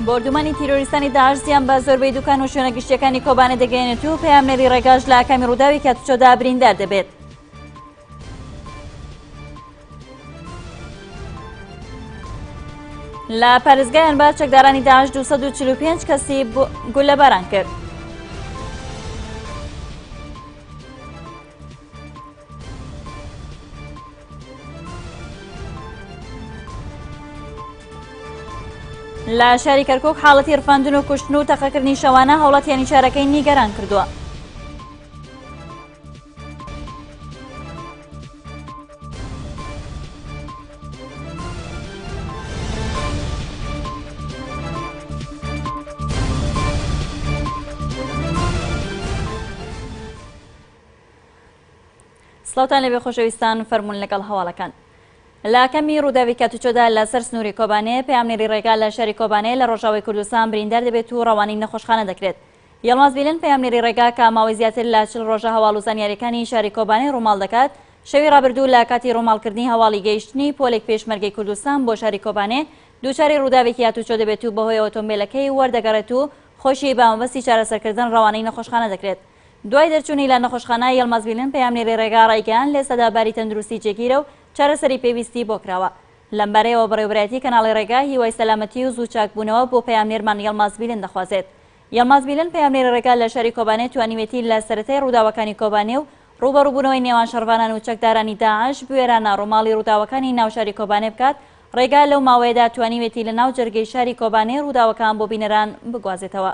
بۆردومانی تیرۆریستانی داعش زیان بە زۆربەی دوکان و شوێنە گشتیەکانی کۆبانە دەگەێنێت و پەیامنێری ڕێگاش لە ئاکامی ڕووداوی کاتچۆدا بریندار دەبێت. لە پارێزگای ئەنبار چەکدارانی داعش 245 کەسی گولەباران کرد. لە شاری کەرکک حاڵەتی رفاندن و کوشتن و تەقەکردنی شەوانە هەوڵەتیانی شارەکەی نیگەران کردووە. سڵاوان لەبێ خۆشەویستان فەرمونون لەگەڵ هەواڵەکان. لاکەمی ڕووداوی کاتوچۆدا لەسەر سنووری کۆبانێ پامنێری ڕێگا لە شاری کۆبانێ لە ڕۆژاوی کوردستان بریندار دەبێت و ڕەوانین نەخۆشخانە دەکرێت یەڵماز بیلن، پەیامنێری ڕێگا کە ماوەی زیاتر لە چل ڕۆژە هەواڵ و زانیارییەکانی شاری کۆبانێ ڕووماڵ دەکات، شەوی ڕابردوو لە کاتی ڕووماڵکردنی هەواڵی گەیشتنی پۆلێک پێشمەرگەی کوردستان بۆ شاری کۆبانێ، دووچاری ڕووداوێکی هاتووچۆ دەبێت و بەهۆی ئۆتۆمبێلەکەی وەردەگەڕێت و خۆشی بە مەبەستی چارەسەرکردن ڕەوانەی نەخۆشخانە دەکرێت. دوای دەرچوونی لە نەخۆشخانە، یەڵماز بیلن، پەیامنێری ڕێگا ڕایگەیاند، لەئێستادا باری تەندروستی جێگیرە و چارەسەری پێویستی بۆ کراوە. لەمبارەیەوە بەڕێوەبەرایەتی کەناڵی ڕێگا هیوای سەلامەتی و زوو چاکبوونەوە بۆ پەیامنێرمان یەڵماز بیلن دەخوازێت. یەڵماز میلەن پەیامنێری ڕێگا لە شاری کۆبانێ توانیوێتی لە سەرەتای ڕووداوەکانی کۆبانێ و ڕووبەڕووبوونەوەی نێوان شەڕڤانان و چەکدارانی داعش بوێرانە ڕووماڵی ڕووداوەکانی ناو شاری کۆبانێ بکات، ڕێگا لەو ماوەیەدا توانیوێتی لە ناو جەرگەی شاری کۆبانێ ڕووداوەکان بۆ بینەران بگوازێتەوە.